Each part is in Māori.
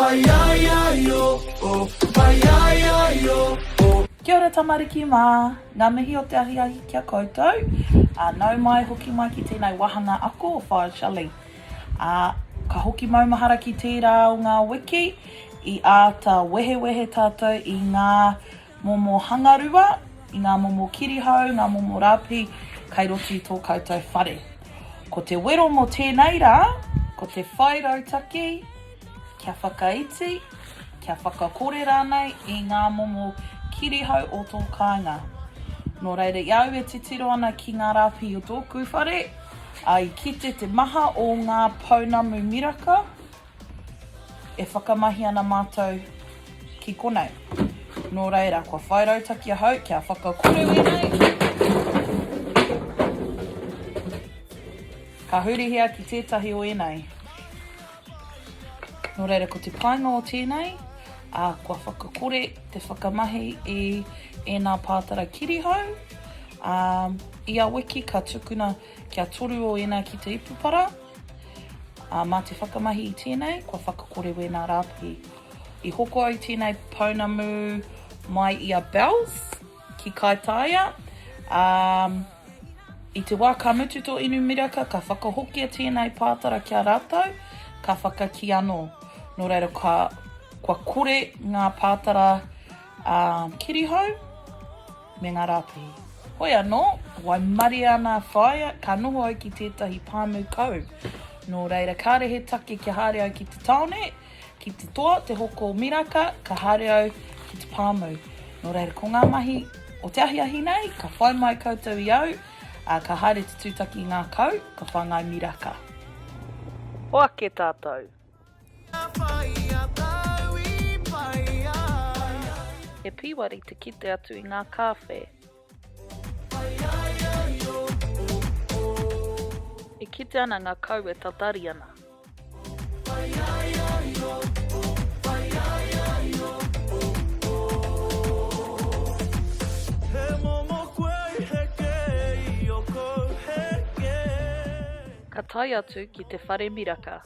Pai ai ai o o, pai ai ai o o. Kia ora tamariki mā! Ngā mihi o te ahiahi ki a koutou. Ā, nau mai, hoki mai ki tēnei wāhanga ako o Fire Shelley. Ā, ka hoki maumahara ki tērā o ngā wiki i āta wehewehe tātou i ngā Momo hangarua, i ngā momo kirihau, ngā momo rāpi kai roto i tō koutou whare. Ko te wero mō tēnei rā, ko te whai rautaki kia whakaiti, kia whakakore rānei i ngā momo kirihau o tō kāinga. Nō reira, i a au e titiro ana ki ngā rāpi o tōku whare, i kite te maha o ngā pounamu miraka, E whakamahi ana mātou ki konei. Nō reira, kua whai rautaki ahau kia whakakoru e nei. Ka hurihia ki tētahi o ēnei. Nō reira, ko te painga o tēnei, a, kua whakakore te whakamahi i ēnā pātara kirihau. A, ia wiki ka tukuna Kia toru o ēnā ki te ipupara, ā, mā te whakamahi i tēnei, kua whakakore wēnā rāpihi. I hoko ai tēnei pounamu mai i a Bells, ki Kaitāia, ā, i te wā ka mutu tō inu miraka, ka whakahokia tēnei pātara ki a rātou, ka whakakī anō. Nō reira, ka, kua kore ngā pātara, ā, kirihou. Me ngā rāpihi. Hoi anō, waimarie ana a whaea, ka noho au ki tētahi pāmu kau. Nō reira, kāre he take kia haere au ki te tāone, ki te toa, te hoko o Miraka, ka haere au ki te pāmu. Nō reira, ko ngā mahi o te ahiahi nei, ka whai mai koutou i au, ā, ka haere te tūtaki i ngā kau, ka whāngai miraka. Hoake tātou, He pīwari te kite atu i ngā kāwhe. E kite ana ngā kau e tatari ana. Ka tae atu ki te whare miraka.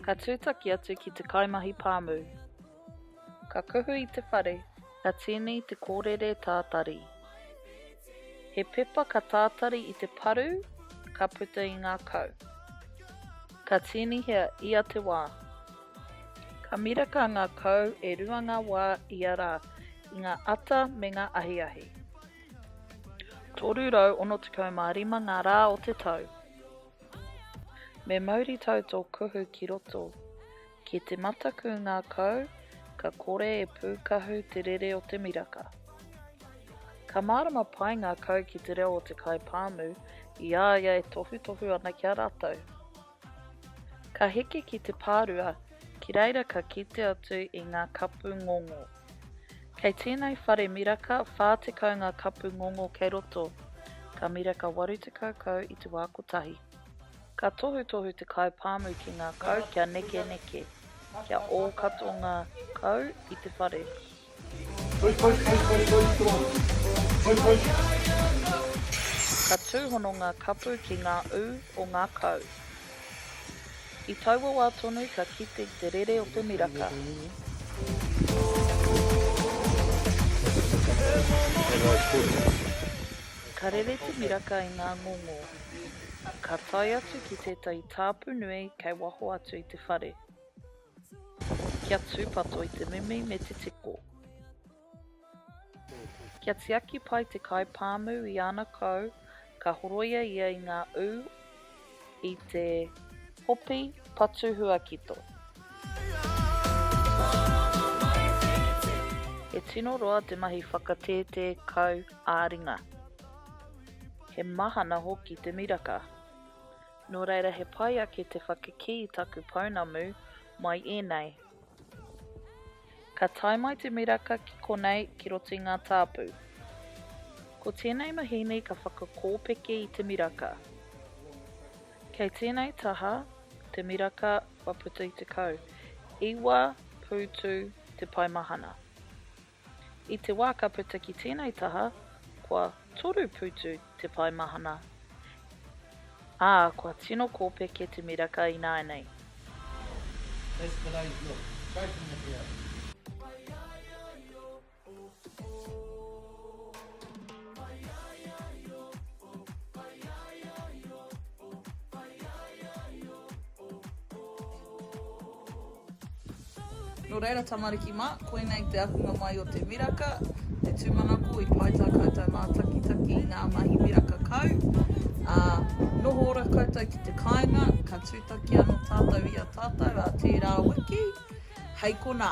Ka tūtaki atu ki te kaimahi pāmu. Ka kuhu i te whare, ka tīni i te kōrere tātari. He pepa ka tātari i te paru, ka puta i ngā kau. Ka tīnihia ia te wā. Ka miraka ngā kau e rua ngā wā ia rā i ngā ata me ngā ahiahi. 365 ngā rā o te tau. Me mauritau tō kuhu ki roto. Ki te mataku ngā kau, ka kore e pūkahu te rere o te miraka. Ka mārama pai ngā kau ki te reo o te kai pāmu i a ia e tohutohu ana ki a rātou. Ka heke ki te pārua, ki reira ka kite atu i ngā kapu ngongo. Kei tēnei whare miraka 40 ngā kapu ngongo kei roto, ka miraka 80 kau i te wā kotahi. Ka tohutohu te kai pāmu ki ngā kau kia nekeneke, kia ō katoa ngā kau i te whare. Ka tūhono ngā kapu ki ngā ū o ngā kau. I taua wā tonu ka kite te rere o te miraka. Ka rere te miraka i ngā ngongō. Ka tae atu ki tētahi tāpu nui kei waho atu i te whare. Kia tūpato i te mimi me te tiko. Kia tiaki pai te kai pāmu i ana kau, ka horoia ia i ngā ū i te hopi patu huakito. He tino roa te mahi whakatētē kau ā-ringa. He mahana hoki te miraka. Nō reira he pai ake te whakakī i taku pounamu mai ēnei. Ka tae mai te miraka ki konei ki roto i ngā tāpu. Ko tēnei mahīni ka whakakōpeke i te miraka. Kei tēnei taha te miraka kua puta i 19 pūtu te paemahana. I te wā ka puta ki tēnei taha, kua toru putu te pae mahana, ā, kua tino kōpeke te miraka ināianei. That's the way it looks. Straight from the ground. Nō reira, tamariki mā, koinei te ahunga mai o te miraka, te tūmanako i pai tā koutou mātakitaki i ngā mahi miraka kau, ā, noho ora koutou ki te kāinga, ka tūtaki anō tātou i a tātou ā tērā wiki, hei konā.